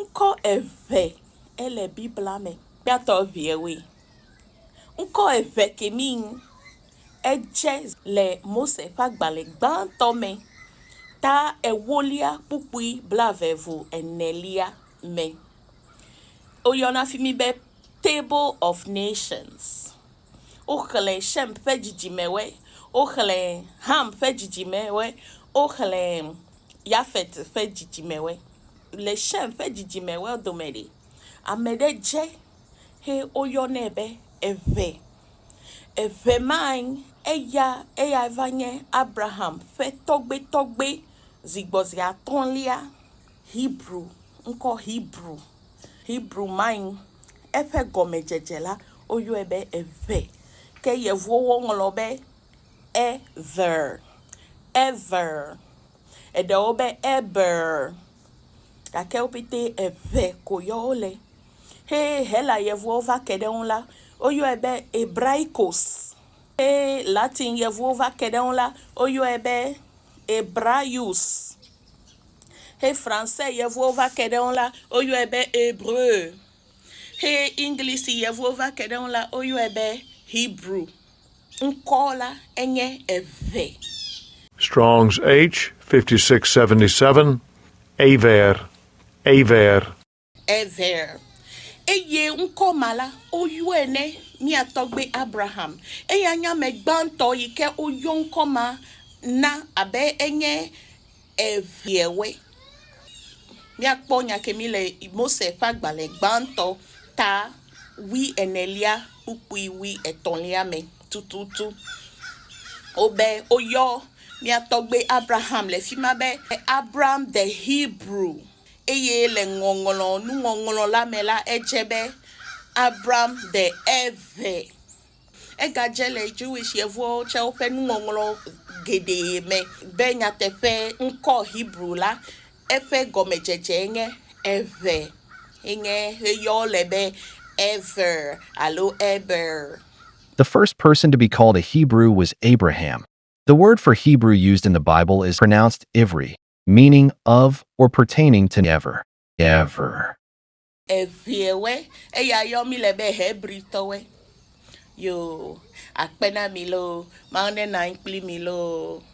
Ŋkɔ eve ele Bibla me. Kpɛatɔ ʋewoe. Ŋkɔ eve ke mi ŋ edze le Mose ƒe agbalẽ gbãtɔ me, ta ewolia kpukpui blaeve-vu enelia me. Woyɔna fi mi be Table of Nations. Woxlẽ Shem ƒe dzidzimewoe. Woxlẽ Ham ƒe dzidzimewoe. Woxlẽ. Yafet ƒe dzidzimewoe. Le Shem ƒe dzidzimewoa dome ɖe, ame ɖe dze he woyɔnɛ be eve. Eve mae eya eyae va nye Abraham ƒe tɔgbetɔgbe zi gbɔ zi atɔ̃lia. Hebru, ŋkɔ Hebru, Hebru mae eƒe gɔmedzedze la woyɔe be eve ke yevuwo woŋlɔ be. Ever, ever. Eɖewo be eber. Gake wo ƒete eve ko yɔ wole. He Hela Yevuwo va ke ɖe eŋu la, woyɔe be Hebraikos. He Latin Yevuwo va ke ɖe eŋu la, woyɔe be Hebraius. He Fransɛ Yevuwo va ke ɖe eŋu la, woyɔe be Hébreu. He Englisi Yevuwo va ke ɖe eŋu la, woyɔe be Hebrew. ŋkɔ la enye eve. Strong's H. 5677, Ever, Ever. Ever. Eye ŋkɔ ma la, woyɔe ne mía tɔgbui Abraham. Eyae nye ame gbãtɔ yi ke woyɔ ŋkɔ ma na abe enye. Eveawoe. Míakpɔ nya ke mí le Mose ƒe agbalẽ gbãtɔ ta wui enelia kpukpui wui etɔ̃lia me tututu. Wobe woyɔ mía tɔgbui Abraham le fima be Abram the Hebrew eye le ŋɔŋlɔ nuŋɔŋlɔ la me la edze be Abram the Eve Egadze le Jewish yevuwo tsɛ woƒe nuŋɔŋlɔ geɖe me be nyateƒe ŋkɔ Hebru la, eƒe gɔmedzedzee nye Eve, ye nye heyɔɔ le be Ever alo Eber. The first person to be called a Hebrew was Abraham. The word for Hebrew used in the Bible is pronounced Ivri, meaning of or pertaining to ever, ever. Eŋɛwɛ, eya yɔ mi le be Hebri tɔwɛ. Yo, akpe na mi loo. Mawu ne nɔ anyi kpli mi loo.